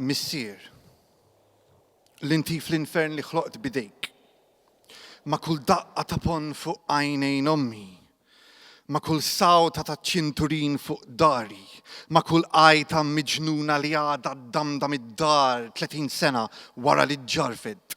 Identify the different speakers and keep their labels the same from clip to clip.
Speaker 1: Missier, li ntif l-infern li ħloqt bidejk, ma' kull daqqa ta' pon fuq għajnejn ommi, ma' kull sawta ta' ċinturin fuq dari, ma' kull għajta miġnuna li għadha damda mid-dar 30 sena wara li ġġarfet.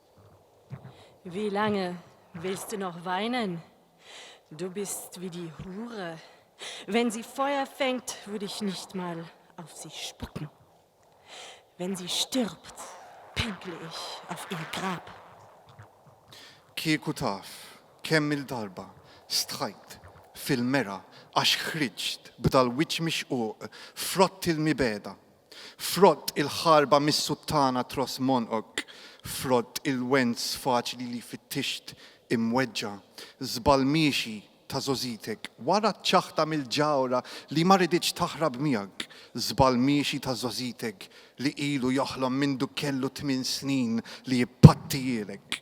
Speaker 2: Wie lange willst du noch weinen? Du bist wie die Hure. Wenn sie Feuer fängt, würde ich nicht mal auf sie spucken. Wenn sie stirbt, pinkle ich auf ihr Grab. Kieku
Speaker 1: taf kemm il-darba stħajt fil-mera għax ħriġt b'dal-wiċċ mixquq frott il-mibegħda Frott il-ħarba mis-suttana tros monqok, frott il-wens faċli li fittixt imweġġa', żball miexi ta' żogħżitek, wara ċ-ċaħta mill-ġawhra li ma riditx taħrab miegħek, żball miexi ta' żogħżitek li ilu joħlom mindu kellu tmien snin li jpattihielek.